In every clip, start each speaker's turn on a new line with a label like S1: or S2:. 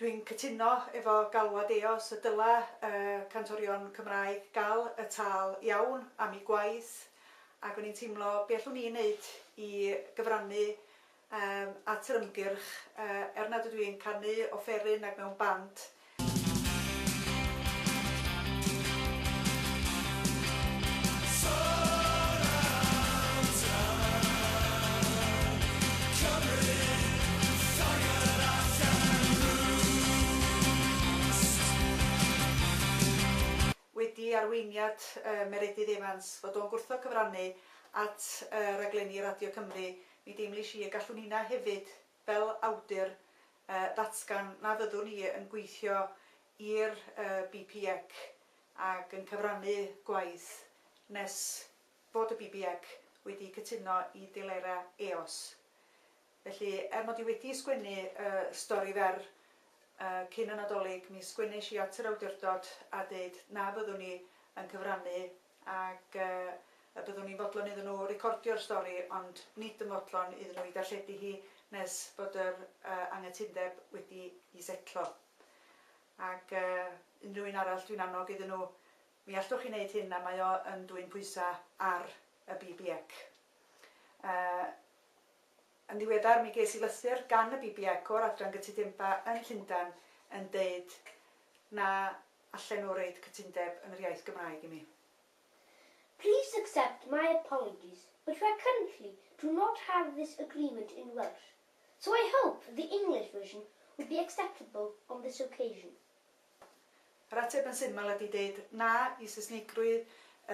S1: Dwi'n cytuno efo galwad Eos y dyla y cantorion Cymraeg gal y tâl iawn am i gwaith ac o'n i'n teimlo be allwn ni neud i gyfrannu yym at yr ymgyrch yy er nad ydw i'n canu offeryn nag mewn band. wedi arweiniad Meredydd Evans, fod o'n gwrthod cyfrannu at raglenni Radio Cymru, mi deimlish i y gallwn inna hefyd fel awdur, ddatgan na fyddwn i yn gweithio i'r BPEC ac yn cyfrannu gwaith nes fod y BPEC wedi cytuno i delerau Eos. Felly, er mod i wedi sgwennu y stori fer cyn y Nadolig, mi sgwennesh i at yr awdurdod a deud na fyddwn i yn cyfrannu ac y byddwn ni'n fodlon iddyn nhw recordio'r stori ond nid yn fodlon iddyn nhw ei darlledu hi nes bod yr anghytundeb wedi'i setlo. Ac unrhyw un arall dwi'n annog iddyn nhw, mi allwch chi wneud hyn a mae o yn dwyn pwysau ar y BBEC. Yn ddiweddar mi ges i lythyr gan y BBEC o'r Adran Gytudebau yn Llundain yn deud na allen nhw roid cytundeb yn yr iaith Gymraeg i mi.
S2: Please accept my apologies but we currently do not have this agreement in Welsh so I hope the English version would be acceptable on this occasion.
S1: Yr ateb yn syml ydi deud na i Saesnigrwydd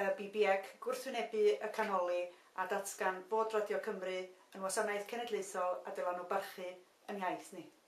S1: y BBEC, gwrthwynebu y canoli a datgan bod Radio Cymru yn wasanaeth cenedlaethol a dyla nhw barchu yn iaith ni.